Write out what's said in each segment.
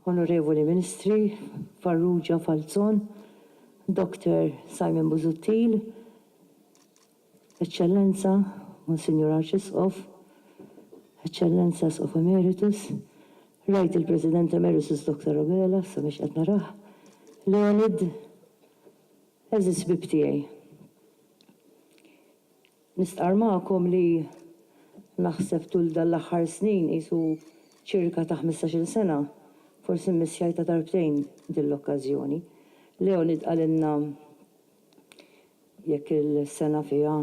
Onorevoli Ministri Farrugia Falzon, Dr. Simon Busuttil, Eċċellenza Monsinjur Arċisqof, Eċċellenza Isqof Emeritus, rajt il-President Emeritus Dr. Abela, issa mhix qed narah, Leonid, Għeżież ħbieb tiegħi, nistqarr magħkom li naħseb tul dan l-aħħar snin, qisu ċirka ta' ħmistax-il sena, forsi mmissjajtha darbtejn din l-okkażjoni. Leonid qalilna jekk il-sena fiha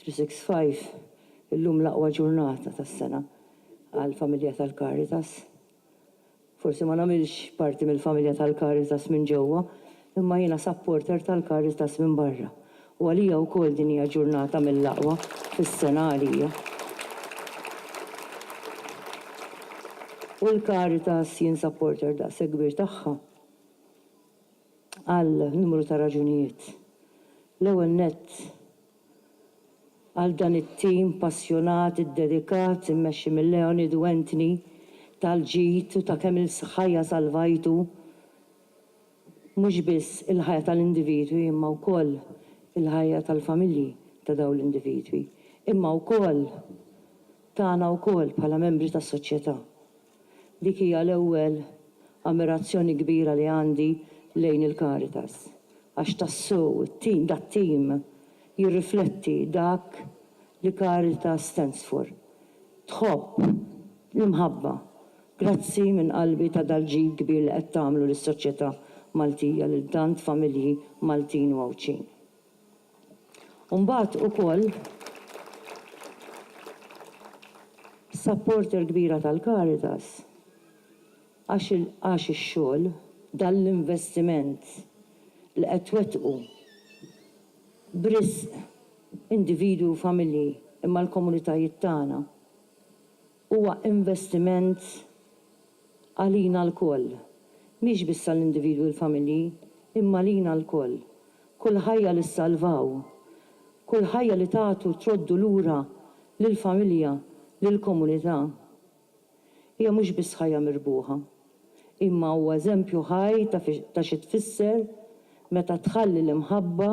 365, illum l-aqwa ġurnata tas-sena għall-familja tal-Caritas. Forsi ma nagħmilx parti mill-familja tal-Caritas minn ġewwa, imma jiena supporter tal-Caritas minn barra, u għalija wkoll din hija ġurnata mill-aqwa fis-sena għalija. U l-Caritas jien supporter daqshekk kbir tagħha għal numru ta' raġunijiet. L-ewwel nett, għal dan it-tim passjonat, iddedikat, immexxi minn Leonid u Anthony, tal-ġid u ta' kemm il-ħajja salvajtu mhux biss il-ħajja tal-individwi imma wkoll il-ħajja tal-familji ta' dawn l-individwi, imma wkoll tagħna wkoll bħala membri tas-soċjetà. Dik hija l-ewwel ammirazzjoni kbira li għandi lejn il-Caritas, għax tassew it-tim, dat-tim jirrifletti dak li Caritas stands for. Tħobb, l-imħabba. Grazzi minn qalbi ta' dal-ġid kbir li qed tagħmlu lis-soċjetà Maltija lil tant familji Maltin u Għawdxin. u mbagħad ukoll supporter kbira tal-Caritas għax għax ix-xogħol, dan l-investiment li qed twettqu b'risq individwi u familji imma l-komunitajiet tagħna. Huwa investiment għalina lkoll, mhix biss għall-individwi u l-familji, imma għalina lkoll. Kull ħajja li ssalvaw, kull ħajja li tagħtu troddu lura lill-familja, lill-komunità, hija mhux biss ħajja mirbuħa, imma huwa eżempju ħaj ta' xi tfisser meta tħalli l-imħabba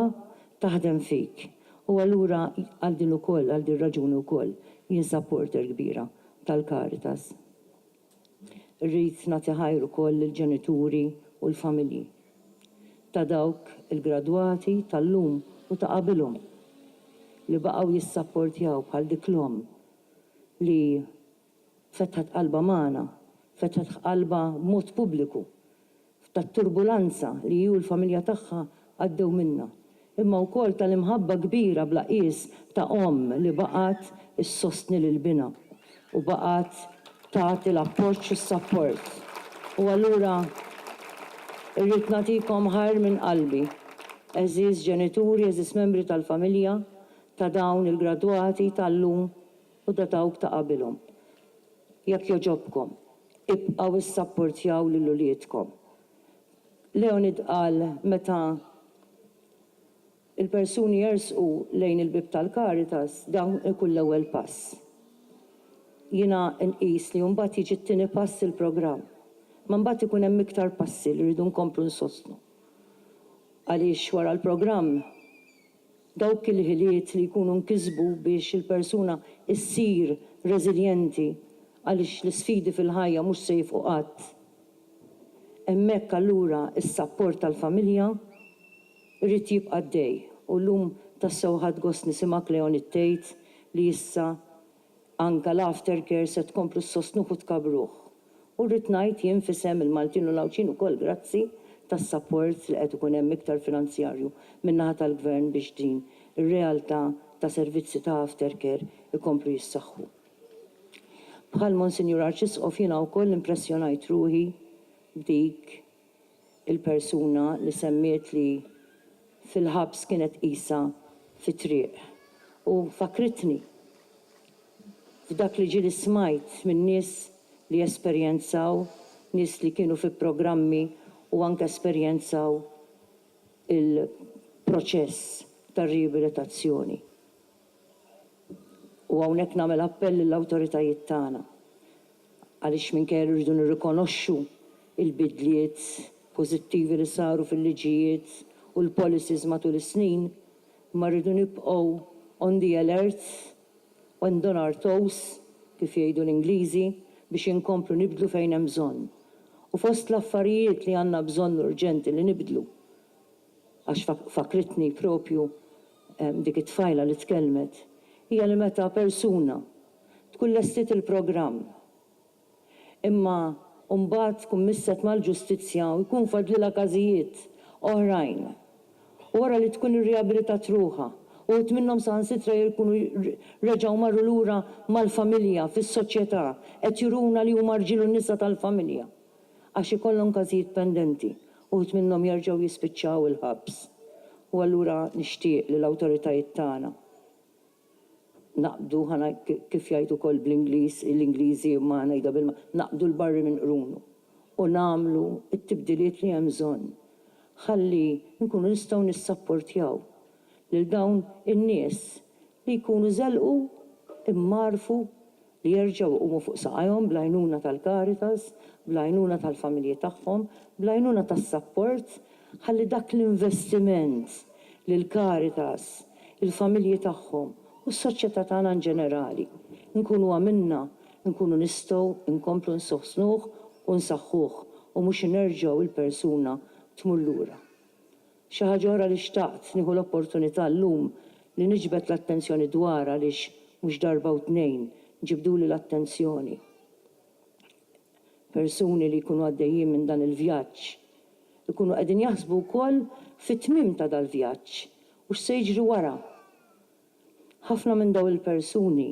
taħdem fik. U allura għal din ukoll, għal din raġuni wkoll, jien supporter kbira tal-Caritas. Rrid nagħti ħajr ukoll lill-ġenituri u l-familji ta' dawk il-gradwati tal-lum u ta' qabilhom li baqgħu jissapportjaw bħal dik l-omm li fetħet qalbha magħna, fetħet ħqalbha b'mod pubbliku, tat-turbulanza li hi u l-familja tagħha għaddew minnha, imma wkoll tal-imħabba kbira bla qies ta' omm li baqgħet issostni lil binha u baqgħet tagħti l-appoġġ u s-sapport. U allura irrid nagħtikom ħajr minn qalbi, għeżież ġenituri, għeżież membri tal-familja ta' dawn il-gradwati tal-lum, u ta' dawk ta' qabilhom. Jekk jogħġobkom, ibqgħu issapportjaw lil uliedkom. Leonid qal meta l-persuni jersqu lejn il-bieb tal-Caritas, dan ikun l-ewwel pass. Jiena nqis li mbagħad jiġi t-tieni pass il-programm. Imma mbagħad ikun hemm iktar passi li rridu nkomplu nsostnu. Għaliex wara l-programm Dawk il-ħiliet li jkunu nkisbu biex il-persuna ssir reżiljenti għaliex l-isfidi fil-ħajja mhux se jifqu qatt. Hemmhekk allura s-sapport tal-familja jrid jibqa' għaddej u llum tassew ħadt gost nisimgħek Leonid tgħid li issa Anke l-aftercare se tkomplu ssostnuh u tkabbruh. U rrid ngħid jien f'isem il-Maltin u l-Għawdxin ukoll grazzi tas-sapport li qed ikun hemm iktar finanzjarju min-naħa tal-Gvern biex din ir-realtà ta' servizzi ta' aftercare ikomplu jissaħħu. Bħal Monsinjur Arċisqof jiena wkoll impressjonajt ruħi b'dik il-persuna li semmiet li fil-ħabs kienet qisha fit-triq u fakkritni f'dak li ġieli smajt minn nies li esperjenzaw, nies li kienu fi programmi u anke esperjenzaw il-proċess tar-riabilitazzjoni. U hawnhekk nagħmel appell lill-awtoritajiet tagħna, għaliex minkejja li rridu nirrikonoxxu l-bidliet pożittivi li saru fil-liġijiet u l-policies matul is-snin, imma rridu nibqgħu on the alert and on our toes, kif jgħidu l-Ingliżi, biex inkomplu nibdlu fejn hemm bżonn. U fost l-affarijiet li għandna bżonn urġenti li nibdlu, għax fakkritni proprju dik it-tfajla li tkellmet, hija li meta persuna tkun lestiet il-programm imma mbagħad tkun misset mal-ġustizzja u jkun fadlilha każijiet oħrajn u wara li tkun irriabilitat ruħha, uħud minnhom saħansitra jkunu reġgħu marru lura mal-familja fis-soċjetà, qed juruna li huma rġiel u nisa tal-familja. għax ikollhom każijiet pendenti, uħud minnhom jerġgħu jispiċċaw il-ħabs. U allura nixtieq li l-awtoritajiet tagħna naqbdu, kif jgħid ukoll bl-Ingliż, l-Ingliżi imma ħa ngħidha bil, naqbdu l-barri minn qrunu u nagħmlu t-tibdiliet li hemm bżonn ħalli nkunu nistgħu nissapportjaw lil dawn in-nies li jkunu żelqu, immarrfu li jerġgħu jqumu fuq saqajhom bl-għajnuna tal-Caritas, bl-għajnuna tal-familji tagħhom, bl-għajnuna tas-sapport ħalli dak l-investiment li l-Caritas, il-familji tagħhom u s-soċjetà tagħna in ġenerali nkunu għamilna nkunu nistgħu nkomplu nsostnuh u nsaħħuh u mhux inerġgħu l-persuna tmur lura. Xi ħaġa oħra li xtaqt nieħu l-opportunità llum li niġbed l-attenzjoni dwarha għaliex mhux darba u tnejn ġibduli l-attenzjoni persuni li jkunu għaddejjin minn dan il-vjaġġ ikunu qegħdin jaħsbu wkoll fit-tmiem ta' dal-vjaġġ u x'se jiġri wara. Ħafna minn dawn il-persuni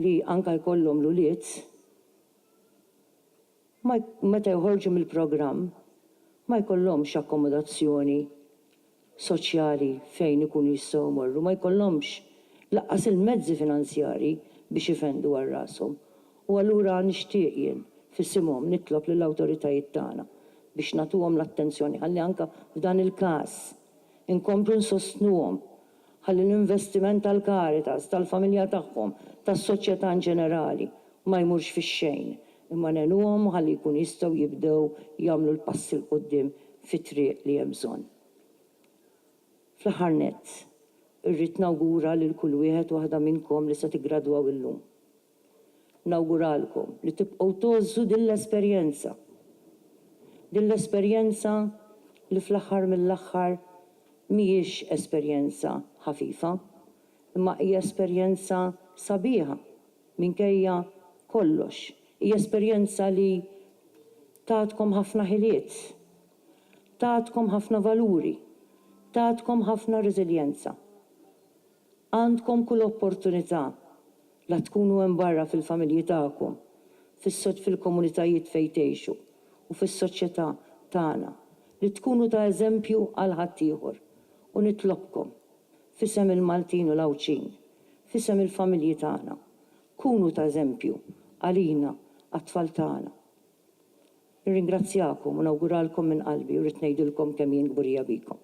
li anke jkollhom l-ulied, ma meta joħorġu mill-programm ma jkollhomx akkomodazzjoni soċjali fejn ikunu jistgħu jmorru, ma jkollhomx lanqas il-mezzi finanzjarji biex ifendu għal rashom. U allura nixtieq jien f'isimhom nitlob lill-awtoritajiet tagħna biex nagħtuhom l-attenzjoni ħalli anke f'dan il-każ inkomplu nsostnuhom ħalli l-investiment tal-Caritas, tal-familja tagħhom, tas-soċjetà inġenerali ma jmurx fix-xejn imma ngħinuhom ħalli jkunu jistgħu jibdew jagħmlu l-passi 'l quddiem fit-triq li hemm bżonn. Fl-aħħar nett, irrid nawgura lil kull wieħed u waħda minnkom li se tiggradwaw illum. Nawguralkom li tibqgħu tgħożżu din l-esperjenza. Din l-esperjenza li fl-aħħar mill-aħħar mhijiex esperjenza ħafifa, imma hija esperjenza sabiħa. Minkejja kollox, hija esperjenza li tatkom ħafna ħiliet, tatkom ħafna valuri, tatkom ħafna reżiljenza. Għandkom kull opportunità la tkunu hemm barra fil-familji tagħkom, fil-komunitajiet fejn tgħixu u fis-soċjetà tagħna li tkunu ta' eżempju għal ħaddieħor u nitlobkom F'isem il-Maltin u l-Għawdxin, f'isem il-familji tagħna, kunu ta' eżempju għalina, għat-tfal tagħna. Nirringrazzjakom u nawguralkom minn qalbi u rrid ngħidilkom kemm jien kburija bikom.